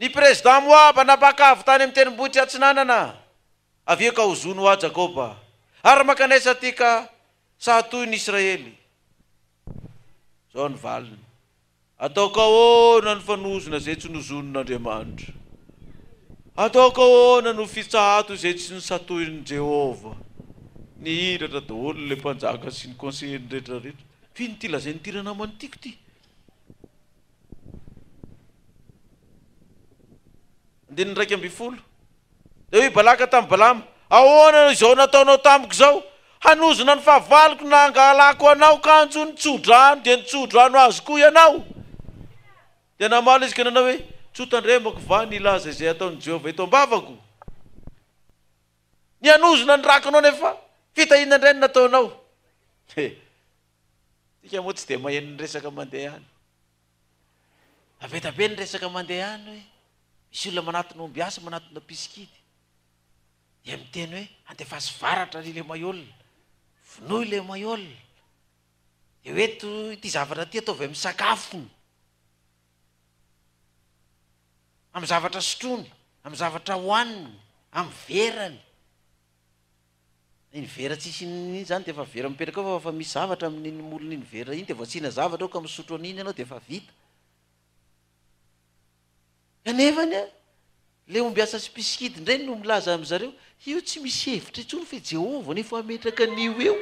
Ny prezidà Moaba nampaka avy tany amin'ny tendrombohitry Atsinanana, avy eo ka ho zony ho ahy Jakôba, ary mankany aiza ity ka saha toy ny Israely? Izao ny valiny, Ataoko ahoana ny fanozona izay tsy nozonin'Andriamanitra? Ataoko ahoana no fitsahato izay tsy nosatohin'i Jehovah? Nihiratra daholo ilay mpanjaka sy ny konseheny rehetra rehetra. F'ino ity lazain'ity ranamana ity ko ity? Andininy iraika ambin'ny folo, Dia hoy Balaka tamin'i Balama, Ahoana izao nataonao tamiko izao? Hanozona ny fahavaloko na hangalako anao kanjo ny tsodrano, dia ny tsodrano azo koa ianao? Dia namaly izy ka nanao hoe, Tsy ho tandremako va ny hilaza izay ataon'i Jehovah eto am-bavako? Ny hanozona ny rakonao nefa fitahiana indray no nataonao. He! Isika moa tsy dia maheno ny resaka mandeha any. Taveta be ny resaka mandeha any hoe misy olona manatona ombiasy, manatona mpisikidy. Dia miteny hoe andefaso varatra ry ilay maiola, vonoy ilay maiola. Dia hoe to ity zavatra ity ataovy amin'ny sakafony, amin'ny zavatra sotroiny, amin'ny zavatra hohaniny, amin'ny verany. Iny vera tsisy inona iny zany dia efa vera mipetraka ao fa efa misy zavatra amin'iny molony iny vera iny dia vao asiana zavatra ao ka misotro an'iny ianao dia efa vita. Kanefa anie ilay ombiasa sy mpisikidy indray no milaza amin-dry zareo, io tsy misy hevitra intsony fa i Jehovah no efa hametraka an'io eo.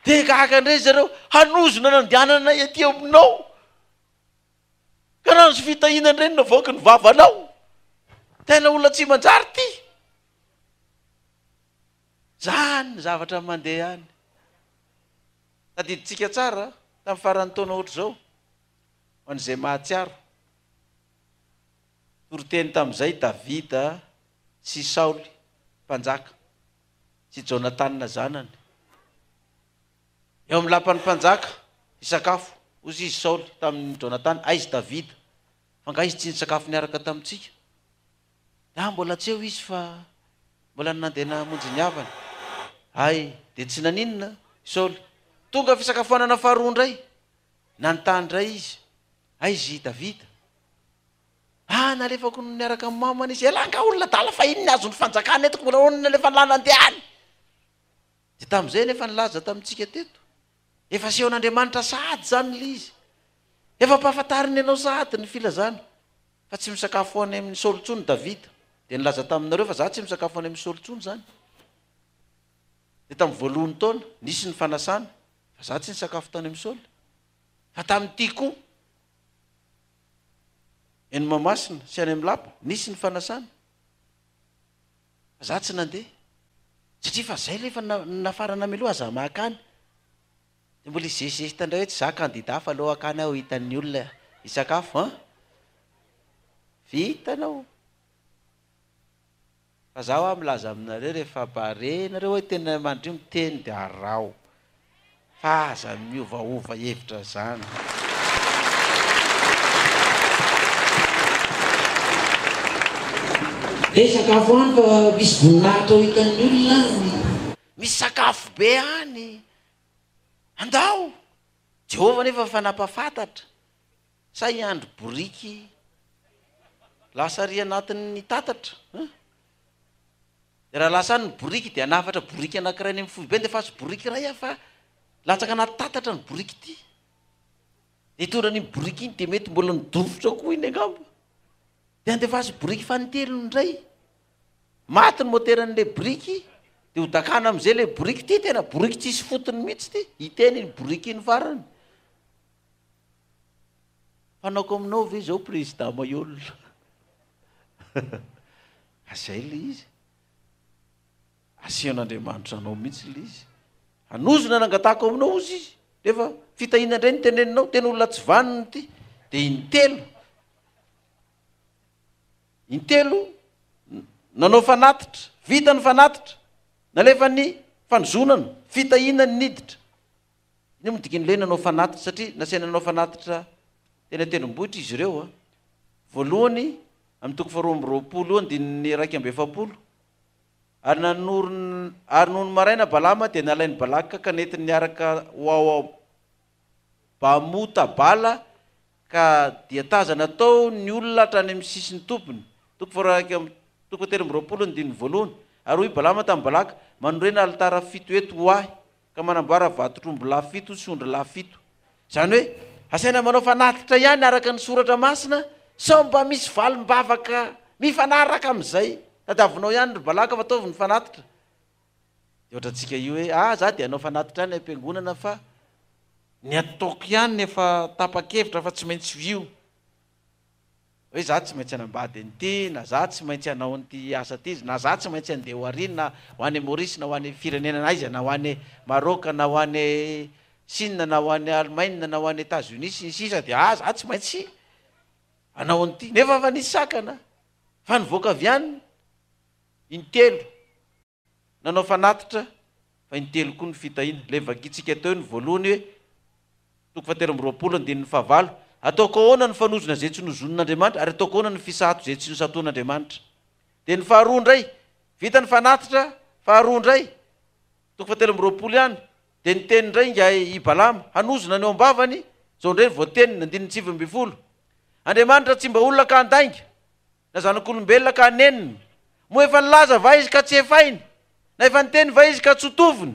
Dia gaga indray ry zareo, hanozona nandehananay aty aminao. Ka raha nisy fitahiana indray navoaky ny vavanao, tena olona tsy manjary ity. Zany ny zavatra mandeha any. Tadidintsika tsara tamin'ny faran'ny taona ohatr'izao, ho an'izay mahatsiaro. Toriteny tamin'izay Davida sy Saoly mpanjaka sy Jonatana zanany. Eo amin'ny lapan'ny mpanjaka, hisakafo. Hozy izy Saoly tamin'i Jonatana, Aizy Davida, f'angaha izy tsy nisakafo niaraka tamintsika? Dia aho mbola tsy eo izy fa mbola nandeha namonjy ny havany. Hay, dia tsy naninona i Saoly. Tonga fisakafoanana faharoa indray. Nanontany indray izy, Aizy i Davida? Ah, nalefako niaraka amin'ny mamany izy. Elah angaha olona adala fa iny ny azon'ny fanjakana eto, ka mbola ahoana ny alefan'i lahy nandeha any? Dia tamin'izay ilay efa nilaza tamintsika teto. Efa asehon'Andriamanitra sahady izany ilay izy. Efa ampahafantariny anao sahady ny filazana, fa tsy misakafo any amin'i Saoly intsony Davida. Dia nilaza taminareo fa izaho tsy misakafo any amin'i Saoly intsony izany. Dia tamin'ny voalohan'ny taona, nisy ny fanasana, fa izaho tsy nisakafo tany amin'i Saoly. Fa tamin'ity koa, eny Mahamasina sy any amin'ny lapa, nisy ny fanasana. Fa za tsy nandeha satria fa zay lefa nafarana mialoha za makany de mbola hizesizesta ndray hoe tsy za candidat fa aleo akany aho hitan'ny olona hisakafo an! vita anao fa za hoa milaza aminareo refa bare nareo hoe tena mandrio miteny de araho fa aza miovaova hevitra izany. Be sakafo any fa misy voninahitra ho hitan'ny olona any. Misy sakafo be any. Andao! Jehovah anefa efa nampahafantatra. Sa i Andry boriky lasa ary anatin'ny tatatra an! Dia raha lasa any ny boriky dia hanafatra boriky anankiray any amin'ny foibe ny dia efa tsy boriky iray aho fa latsaka anaty tatatra ny boriky ity. Dia hitondra an'iny boriky iny dia mety mbola nidofitra koa iny angamba. Dia andefaso boriky fanintelony indray. Maty ny moteran'ilay boriky dia hodakana amin'izay ilay boriky ity tena boriky tsisy fotony mihitsy ity. Hiteny iny boriky iny farany. Fanaoko aminao ve zao président Maihol? Fa zay le izy. Asehon'Andriamanitra anao mihitsy le izy. Hanozona nangatahako aminao ozy izy. Nefa fitahiana indray ny teneninao, tena olona tsy vanona ity. Dia intelo. Intelo nanao fanatitra, vita ny fanatitra. Nalefa ny fanozonana, fitahiana ny niditra. Inona moa ny dikan'ny hoe nanao fanatitra? Satria nasaina nanao fanatitra teny an-tendrombohitra izy ireo. Voalohany, amin'ny toko faharoa amby roapolo, andininy iraika amby efapolo, Ary nanorina, ary nony maraina Balama dia nalain'i Balaka ka nentiny niaraka ho ao Bamota Bala, ka dia tazana tao ny olona hatrany amin'ny sisin'ny tobiny. Toko faharoa, toko fahatelo amby roapolo, andininy voalohany, Ary hoy Balama tamin'i Balaka, Manorena alitara fito eto ho ahy, ka manamboara vatotr'ombilahy fito sy ondrilahy fito. Izany hoe, asaina manao fanatitra ihany araka ny Soratra Masina sao mba misy valim-bavaka mifanaraka amin'izay. Tadiavinao ihany ry Balaka fa ataovy ny fanatitra. Dia ohatrantsika io hoe, ah, za dia hanao fanatitra any am-piangonana fa ny ataoko ihany efa tapa-kevitra fa tsy maintsy ho io. hoe za tsy maintsy hanambady an'ity na za tsy maintsy hanao an'ity asa ity na za tsy maintsy handeha ho ary na ho any Maurice na ho any firenena na aiza na ho any Maroc na ho any Chine na ho any Allemagne na ho any Etats Unis sy ny sisa dia ah za tsy maintsy hanao an'ity nefa efa nisy sakana fa nivoaka avy any intelo Nanao fanatitra fa intelo koa ny fitahiana. Ilay vakintsika teo ny voalohany hoe, Toko fahatelo amby roapolo, andininy fahavalo, Ataoko ahoana ny fanozona izay tsy nozonin'Andriamanitra, ary ataoko ahoana ny fisato izay tsy nosatoan'Andriamanitra? Dia ny faharoa indray, vita ny fanatitra faharoa indray, toko fahatelo amby roapolo ihany, dia niteny indray ingahy i Balama, hanozona ny ao am-bavany, izao indray ny voateniny, andininy sivy ambin'ny folo, Andriamanitra tsy mba olona ka handainga, Na zanak'olombelona ka hanenina? Moa efa nilaza va izy ka tsy hefainy? Na efa niteny va izy ka tsy ho tovony?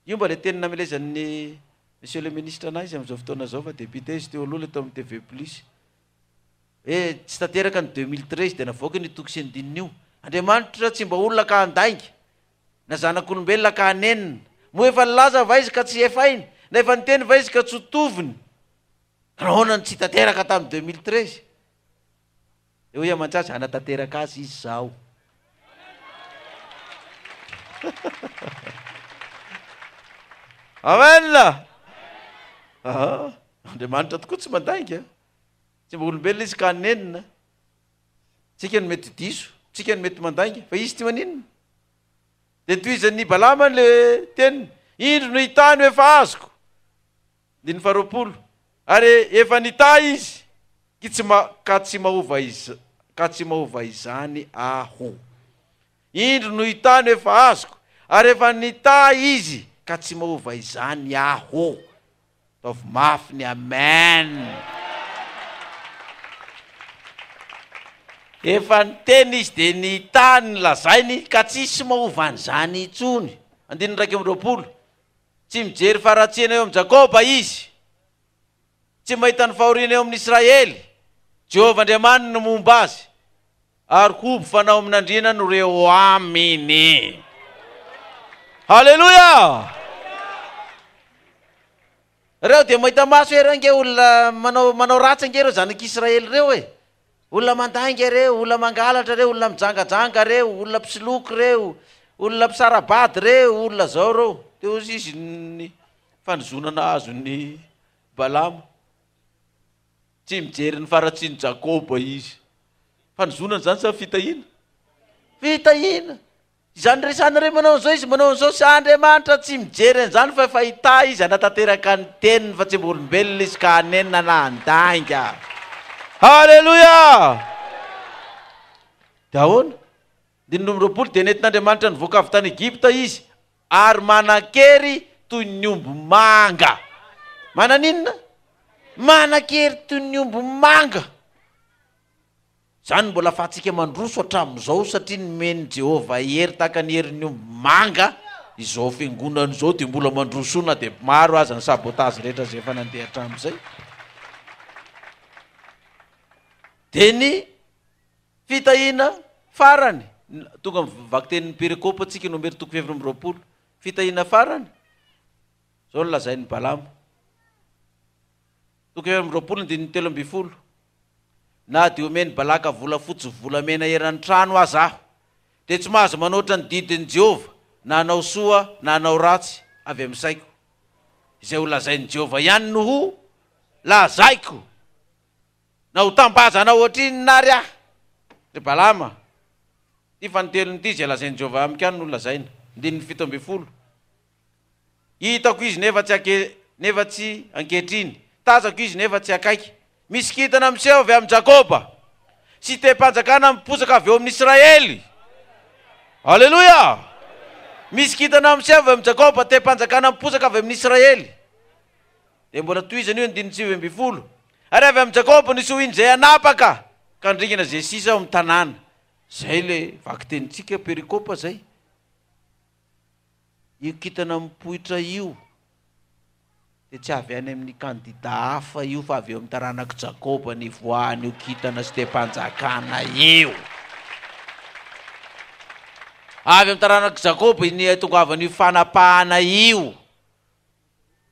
Io mba ilay teny namelezan'ny Monsieur le Ministre anà izy amin'izao fotoana izao fa député izy teo aloha ilay tao amin'ny TV Plus hoe tsy tanteraka ny deux mille treize dia navoakany io toko sy andininy io. Andriamanitra tsy mba olona ka handainga. Na zanak'olombelona ka hanenina? Moa efa nilaza va izy ka tsy hefainy? Na efa niteny va izy ka tsy ho tovony? Nahoana no tsy tanteraka tamin'ny deux mille treize? Dia hoy aman-jaza, Hanatanteraka azy izy izaho. Amen! Ah, Andriamanitra tokoa tsy mandainga. Tsy mba olombelona izy ka hanenina. Tsika no mety diso, tsika no mety mandainga, fa izy tsy maninona. Dia tohizan'ny Balamany le teniny, indro no hitany ho efa azoko. Andininy faharoapolo, Ary efa nitahy izy, ky tsy ma, ka tsy mahova iz, ka tsy mahova izany Aho. Indro no hitahy no efa azoko, ary efa nitahy izy, ka tsy mahova izany Aho. Ataovy mafy ny Amen! Efa niteny izy dia nitahy ny lazainy, ka tsisy mahova an'izany intsony. Andininy iraika amby roapolo, Tsy mijery faharatsiana eo amin'i Jakoba Izy. Tsy mahita ny fahoriana eo amin'i Israely. Jehovah Andriamaniny no momba azy. Ary hoby fanao amin'andriana no rehoaminy. Haleloia! Reo dia mahita maso ery ange olona manao manao ratsy ange reo zanak'Israely reo e. Olona mandainga ireo, olona mangalatra ireo, olona mijangajanga ireo, olona mpisoloky ireo, olona mpisara-bady ireo, olona izao ireo. Dia hozy izy ny fanozonana azon'i Balama. Tsy mijery ny faharatsian'i Jakoba izy. Fanozonana izany sa fitahiana? Fitahiana. Izany resahana hoe manao an'izao izy, manao an'izao, sa Andriamanitra tsy mijery an'izany fa efa hita izy hanatanteraka ny teniny fa tsy mba olombelona izy ka hanenina na handainga. Haleloia! Dia ahoana? Andininy roa amby roapolo, Dia nentin'Andriamanitra nivoaka avy tany Egypta izy, ary manan-kery toy ny omby manga. Manan'inona? Manan-kery toy ny omby manga. Izany no mbola ahafahantsika mandroso hatramin'izao, satria nomen'i Jehovah hery tahaka ny herin'ny omby manga izao fiangonana izao, dia mbola mandroso na dia maro aza ny sabotage rehetra izay efa nandeha hatramin'izay. Dia ny fitahiana farany, tonga amin'ny vakitenin'ny perikopa antsika, Nomera toko fahefatra amby roapolo. Fitahiana farany, izao no lazain'i Balama. Toko fahefatra amby roapolo, andininy telo ambin'ny folo. Na dia omen'i Balaka volafotsy sy volamena eran'ny trano aza aho, dia tsy mahazo manoatra ny didin'i Jehovah, na hanao soa na hanao ratsy, avy amin'ny saiko. Izay ho lazain'i Jehovah ihany no ho lazaiko. Na ho tambazana hoatr'inona àry aho, ry Balama, ity fanintelony ity izay lazain'i Jehovah amiko ihany no lazaina. Andininy fito ambin'ny folo. Hitako izy nefa tsy anke nefa tsy ankehitriny, tazako izy nefa tsy akaiky. Misy kintana miseho avy amin'i Jakoba, sitem-panjakana miposaka avy eo amin'ny Israely. Aleloia! Misy kintana miseho avy amin'i Jakoba, tem-panjakana miposaka avy amin'ny Israely. Dia mbola tohizana io andininy sivy ambin'ny folo, Ary avy amin'i Jakoba ny sohiny izay hanapaka ka handringana izay sisa ao amin'ny tanàna. Izay ilay vakitenintsika perikopa izay. Io kintana mipoitra io dia tsy avy any amin'ny kandida hafa io fa avy eo amin'ny taranak'i Jakoba nivoahan'io kintana sy teham-panjakana io. Avy amin'ny taranak'i Jakoba iny hahatongavan'io fanapahana io.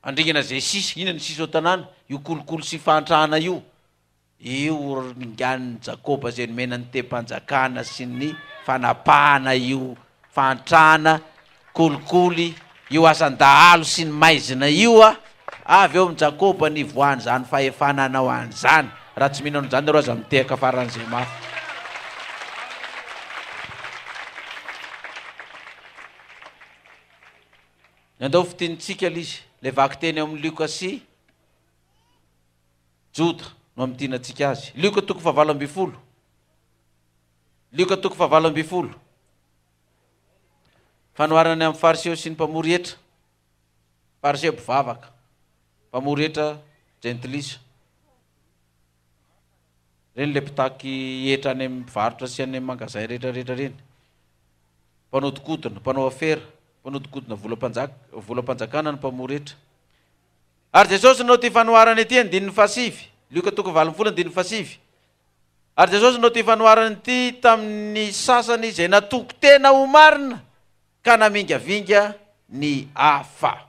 Andringana izay sisa, inona ny sisa ao an-tanàna, io kolikoly sy fahantrana io. Io horongian'i Jakoba izay nomena ny tehim-panjakana sy ny fanapahana io fahantrana, kolikoly, io asan-dahalo sy ny maizina io a! Avy eo amin'i Jakoba ny ivoahan'izany fahefana hanao an'izany. Raha tsy mino an'izany ianareo aza mitehaka faran'izay mafy. Ny andao fitinitsika ilay izy, ilay vakiteny ao amin'ny Lioka sy. Joda no amidinantsika azy. Lioka toko fahavalo ambin'ny folo. Lioka toko fahavalo ambin'ny folo. Fanoharana ny amin'ny fariseo sy ny mpamory hetra. Fariseo mpivavaka. Mpamory hetra jentilisa. Ireny ilay mpitaky hetra any amin'ny mpivarotra sy any amin'ny mangazay rehetra rehetra ireny. Mpanodikodina, mpanao afera, mpanodikodina volam-panjaka, volam-panjakana ny mpamory hetra. Ary Jesosy no tia fanoharana ity andininy fahasivy, Lioka toko valo ambin'ny folo andininy fahasivy. Ary Jesosy no tia fanoharana ity tamin'ny sasany izay natoky tena ho marina ka namingavinga ny hafa.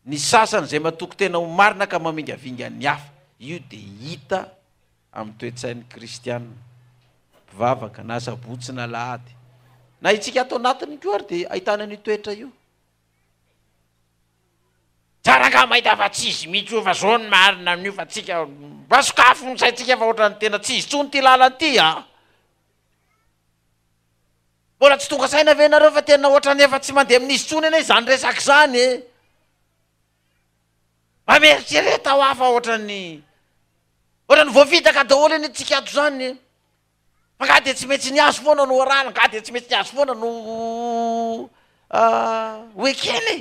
Ny sasany izay matoky tena ho marina ka mamingavinga ny hafa. Io dia hita amin'ny toe-tsain'ny kristiana mpivavaka, na Sabotsy na Alahady. Na itsika ato anatiny koa ary dia ahitana an'io toetra io. Tsara angaha mahita fa tsy izy mihitsy io fa zao ny marina amin'io fa tsika mba sokafy ny saintsika fa ohatrany tena tsy izy tsony ty lalany ty an! Mbola tsy tonga saina ve nareo fa tena ohatrany efa tsy mandeha amin'izy tsony anie zany resaka zany e! Mba mieritrereta hoa fa ohatrany ohatrany voafitaka daholo anie tsika ato zany e! Nga dia tsy maintsy ny azy foana no arahana, nga dia tsy maintsy ny azy foana no ho ekena e!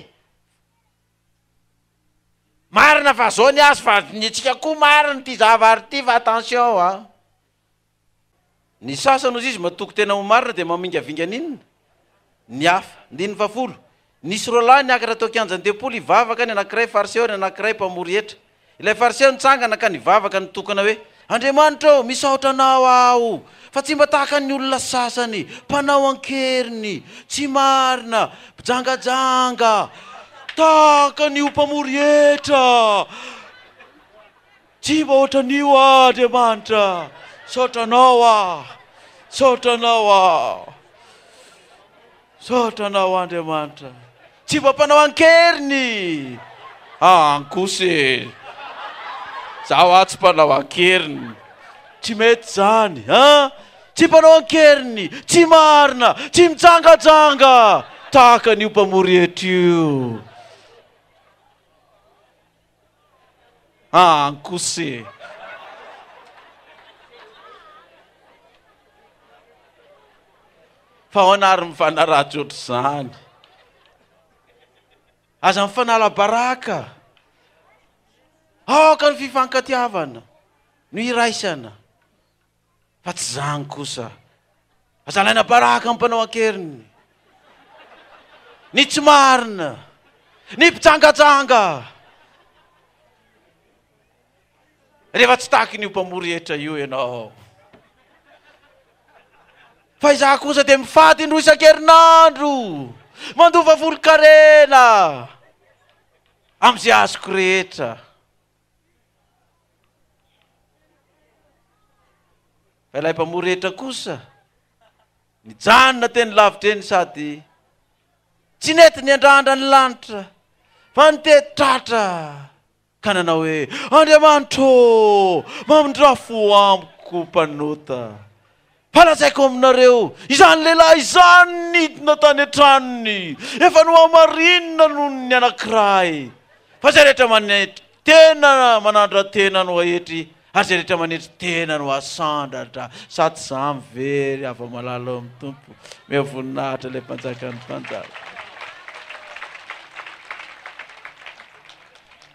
Marina fa zao ny azy fa ny antsika koa marina ity zavary ity fa attention an! Ny sasany ozizy matoky tena ho marina dia mamingavinga an'inona? ny hafa. Andininy fahafolo, Nisy roa lahy niakatra teo an-kianjan'ny tempoly hivavaka, ny anankiray Fariseo ary ny anankiray mpamory hetra. Ilay Fariseo nitsangana ka nivavaka nitokana hoe, Andriamanitra ô, misaotra Anao aho, fa tsy mba tahaka ny olona sasany, mpanao an-keriny, tsy marina, mpijangajanga, tahaka an'io mpamory hetra. Tsy mba ohatran'io aho Andriamanitra Misaotra anao aho Misaotra anao aho Misaotra anao Andriamanitra Tsy mba mpanao an-keriny Ah an kosa e Zaho aho tsy mpanao an-keriny Tsy mety izany an Tsy mpanao an-keriny Tsy marina Tsy mijangajanga Tahaka an'io mpamory hetra io Ah ankose. Fa ahoana ary mifanaratsy ohatr'izany? Aza mifanala baraka. Aoka ny fifankatiavana no iraisana. Fa tsy zany kosa. Aza alaina baraka ny mpanao an-keriny. Ny tsy marina. Ny mpijangajanga. Rehefa tsy takin'io mpamory hetra io ianao. Fa izaho kosa dia mifady indroa isan-kerinandro. Mandoa vavolokarena. Amin'izay azoko rehetra. Fa ilay mpamory hetra kosa, nijanona teny lavitra eny sady tsy nety niandrandra ny lanitra, fa nitety tratra ka nanao hoe, Andriamanitro ô, mamindrà fo amiko mpanota. Fa lazaiko aminareo, izany lehilahy izany nidina tany an-tranony, efa nohamarinina noho ny anankiray. Fa izay rehetra manetry tena manandra-tena no haetry, ary izay rehetra manetry tena no hasandratra. Sady izaho mivery avo amalala ao amin'ny Tompo. Omeo voninahitra ilay Mpanjakan'ny Mpanjaka.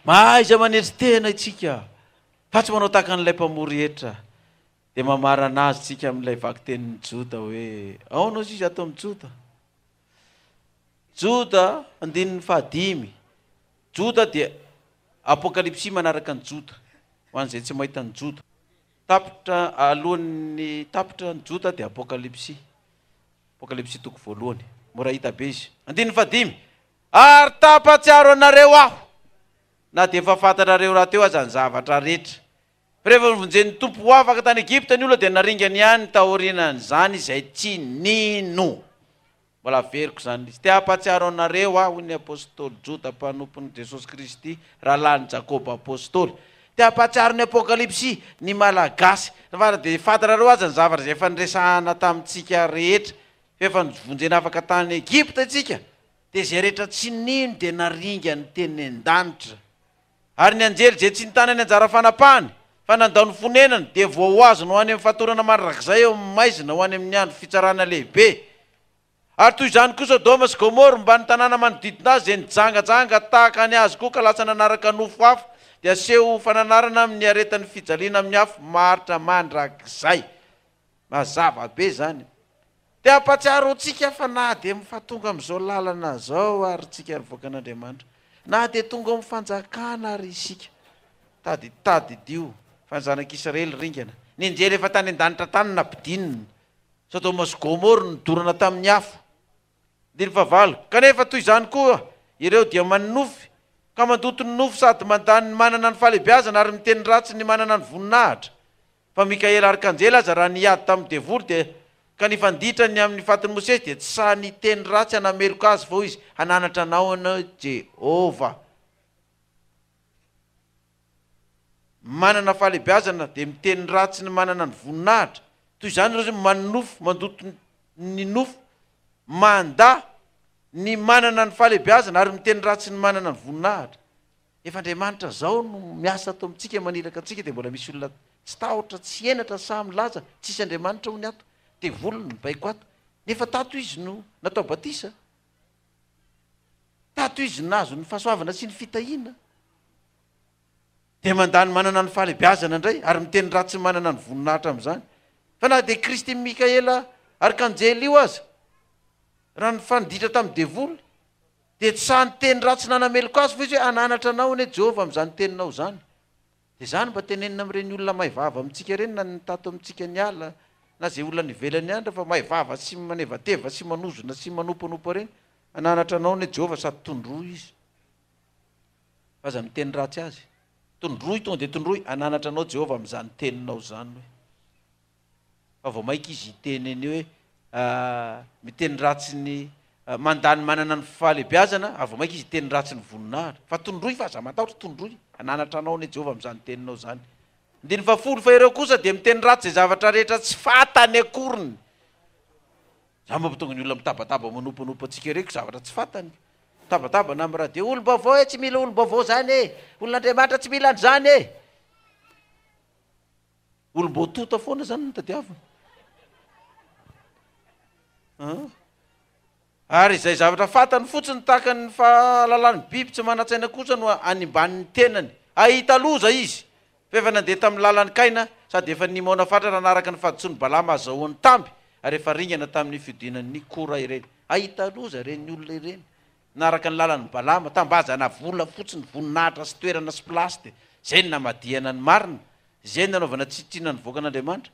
Mahaiza manetry tena itsika, fa tsy manao tahaka an'ilay mpamory hetra. Dia mamarana azy tsika amin'ilay vakitenin'ny Joda hoe, aona ozy izy ato amin'ny Joda? Joda, andininy fahadimy. Joda dia Apokalypsy manaraka ny Joda, ho an'izay tsy mahita ny Joda. Tapitra, alohan'ny tapitra ny Joda dia Apokalypsy. Apokalypsy toko voalohany. Mora hita be izy. Andininy fahadimy. Ary tapatsiaro anareo aho, na dia efa fantatrareo rahateo aza ny zavatra rehetra, Rehefa novonjen'ny Tompo ho afaka tany Egypta ny olona dia naringany ihany taorianan'izany izay tsy nino. Mbola averiko izany list. Te hampahatsiaro anareo aho, hoy ny apostoly Joda mpanompon'i Jesosy Kristy, rahalahin'i Jakoba apostoly. Te hampahatsiaro ny Apokalypsy ny Malagasy. Fara dia fantanareo aza ny zavatra izay efa niresahana tamintsika rehetra. Efa novonjena afaka tany Egypta isika, dia izay rehetra tsy nino dia naringany teny an-danitra. Ary ny anjely izay tsy nitana ny anjara fanapahany, fa nandao ny fonenany, dia voahoazony ho any amin'ny fatorana mandrakizay eo amin'ny maizina ho any amin'ny andro fitsarana lehibe. Ary toy izany koa Sodoma sy Gomora mba ny tanàna manodidina azy izay nijangajanga tahaka ny azy koa ka lasa nanaraka nofo hafa, dia aseho ho fananarana amin'ny aretan'ny fijaliana amin'ny afo maharitra mandrakizay. Mazava be zany. Te hampatsiaro antsika fa na dia mfa tonga amin'izao lalana izao ary tsika nivoaka an'Andriamanitra, na dia tonga ao amin'ny fanjakana ary isika, tady tadidio fa ny zanak'Israely ringana, ny anjely efa tany an-danitra tany nabdinina, Sodoma sy Gomoro nodorana tamin'ny afo, Andily fahavalo. Kanefa toy izany koa ireo dia manonofy ka mandoto ny nofo sady mandany ny manana ny fahalebiazana ary miteny ratsy ny manana ny voninahitra, fa Mikaela Arkanjely aza raha nihady tamin'ny devoly dia ka nifanditra ny amin'ny fatin'i Mosesy dia tsy sahy niteny ratsy hanameloka azy fa hoy izy, Hananatra anao ianao Jehovah. manana fahalebiazana dia miteny ratsy ny manana ny voninahitra, toy izany ireo izay manonofy, mandoto ny nofy, mandà ny manana ny fahalebiazana ary miteny ratsy ny manana ny voninahitra. Efa Andriamanitra izao no miasa ato amintsika, maniraka antsika, dia mbola misy olona tsy tahotra, tsy henatra, sahy milaza, tsisy Andriamanitra hono ato, devoly no mibaiko ato, nefa tato izy no natao batisa. Tato izy nahazo ny fahasoavana sy ny fitahiana, dia mandà ny manana ny fahalebiazana indray ary miteny ratsy ny manana ny voninahitra amin'izany. Fa na dia Kristy Mikaela Arkanjely io aza, raha nifanditra tamin'ny devoly, dia tsy sahy niteny ratsy nanameloka azy, fa izy hoe, Hananatra anao anie Jehovah amin'izany teninao izany. Dia izany mba tenenina amin'ireny olona may vava amintsika ireny na ny tato amintsika ny ala na izay olona any ivelany any rehefa may vava sy manevateva sy manozona sy manompanopa ireny hananatra anao anie Jehovah sady tondroy izy fa aza miteny ratsy azy tondroy tonga dia tondroy hananatra anao Jehovah amin'izany teninao izany hoe fa vao maika izy hiteny an'io hoe miteny ratsy ny mandà ny manana ny fahalebiazana ary vao maika izy hiteny ratsy ny voninahitra fa tondroy fa aza matahotra tondroy hananatra anao anie Jehovah amin'izany teninao izany andininy fahafolo fa ireo kosa dia miteny ratsy izay zavatra rehetra tsy fantany akoriny za mba tonga ny olona mitabataba manompanopa antsika ireko zavatra tsy fantany mitabataba na miraha dia olom-baovao e tsy mila olom-baovao zany e olon'Andriamanitra tsy mila an'izany e Olom-boatota foana zany no tadiaviny. Ary izay zavatra fantany fotsiny tahaka ny fahalalan'ny biby tsy manan-tsaina kosa no animban'ny tenany. Hahita loza izy fa efa nandeha tamin'ny lalan'i Kaina sady efa nimaona fatratra hanaraka ny fahadisoan'i Balama hazahoany tamby ary efa ringana tamin'ny fiodinan'i Kora ireny. Hahita loza ireny olona ireny Naraka ny lalan'i Balama, tambazana volafotsy ny voninahitra sy toerana sy plasde, zay no namadihana ny marina, izay no nanaovana tsitrinona ny vahoaka an'Andriamanitra.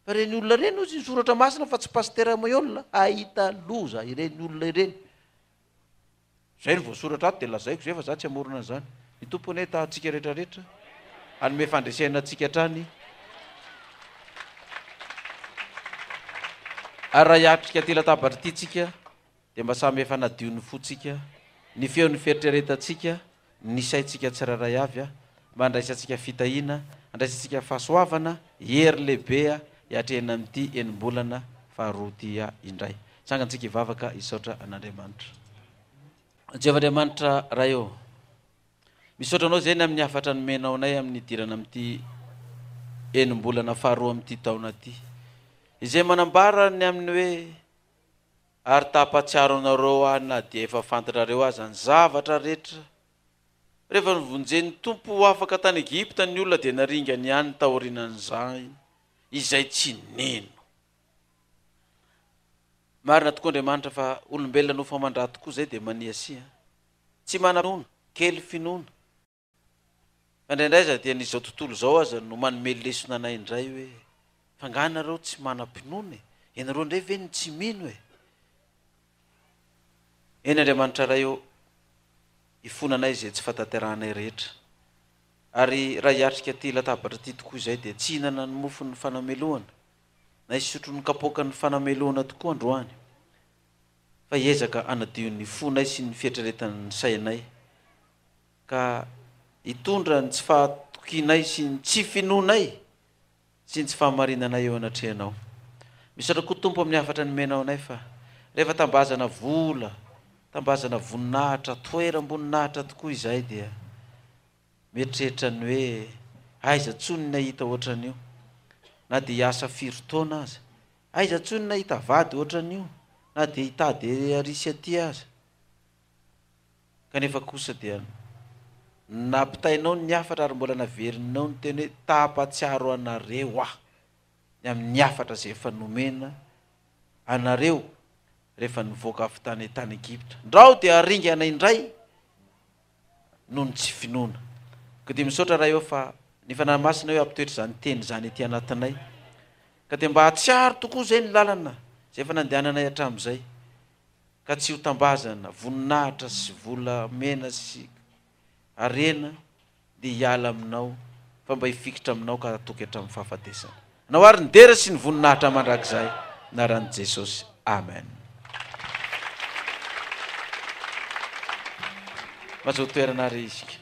Fa ireny olona ireny ozy ny soratra masina fa tsy Pasitera Moyola ahita loza ireny olona ireny. Zay no voasoratra ato dia lazaiko zay fa za tsy hamorona an'izany. Ny Tompo anie hitaha antsika rehetra rehetra, hanome fandresena antsika hatrany, ary raha hiatrika ity latabatra ity tsika dia mba samy efa nadio ny fontsika, ny feon'ny fieritreretantsika, ny saintsika tsirairay avy a! Mba handraisantsika fitahiana, handraisantsika fahasoavana, hery lehibe a! Hiatrehina amin'ity enim-bolana faharoa ity a! Indray. Tsangantsika hivavaka hisaotra an'Andriamanitra. Jehovah Andriamanitra Ray ô! Misaotra Anao Zeny amin'ny hafatra nomenao anay amin'ny hidirana amin'ity enim-bolana faharoa amin'ity taona ity. Izay manambara ny amin'ny hoe, Ary ta hampatsiaro anareo aho na dia efa fantatrareo aza ny zavatra rehetra. Rehefa novonjen'ny Tompo ho afaka tany Egypta ny olona dia naringany ihany taorianan'izay izay tsy nino. Marina tokoa Andriamanitra fa olombelona nofo aman-dra tokoa izay dia maniasia. Tsy manam-pinoana, kely finoana. Fa indraindray aza dia ny izao tontolo izao aza no manome lesona anay indray hoe fa angaha ianareo tsy manam-pinoana e? Ianareo indray ve no tsy mino e? Eny Andriamanitra Ray ô, ifona anay izay tsy fahatanterahanay rehetra. Ary raha hiatrika ity latabatra ity tokoa izay dia tsy hihinana ny mofon'ny fanamelohana na hisotro ny kapoakan'ny fanamelohana tokoa androany fa hiezaka hanadio ny fonay sy ny fieritreretan'ny sainay ka hitondra ny tsy fahatokianay sy ny tsy finoanay sy ny tsy fahamarinanay eo anatrehanao. Misaotra koa Tompo amin'ny hafatra nomenao anay fa rehefa tambazana vola, tambazana voninahitra, toeram-boninahitra tokoa izahay dia mieritreritra ny hoe aiza intsony ny hahita ohatran'io, na dia hiasa firy taona aza, aiza intsony ny hahita vady ohatran'io, na dia hitady ery ary sy aty aza. kanefa kosa dia nampitainao ny hafatra ary mbola naverinao ny teny hoe tahapatsiaro anareo aho ny amin'ny hafatra izay efa nomena anareo rehefa nivoaka avy tany tany Egypta ndrao dia aringana indray noho ny tsy finoana ka dia misaotra raha eo fa ny fanahy masina eo ampitoetra izany teny izany ety anatinay ka dia mba hatsiaro tokoa izay ny lalana izay efa nandehananay hatramin'izay ka tsy ho tambazana voninahitra sy vola mena sy harena dia hiala aminao fa mba hifikitra aminao ka hatoky hatramin'ny fahafatesana anao ary ny dera sy ny voninahitra mandrakizay naran'i Jesosy Amen Mazotoerana ary isika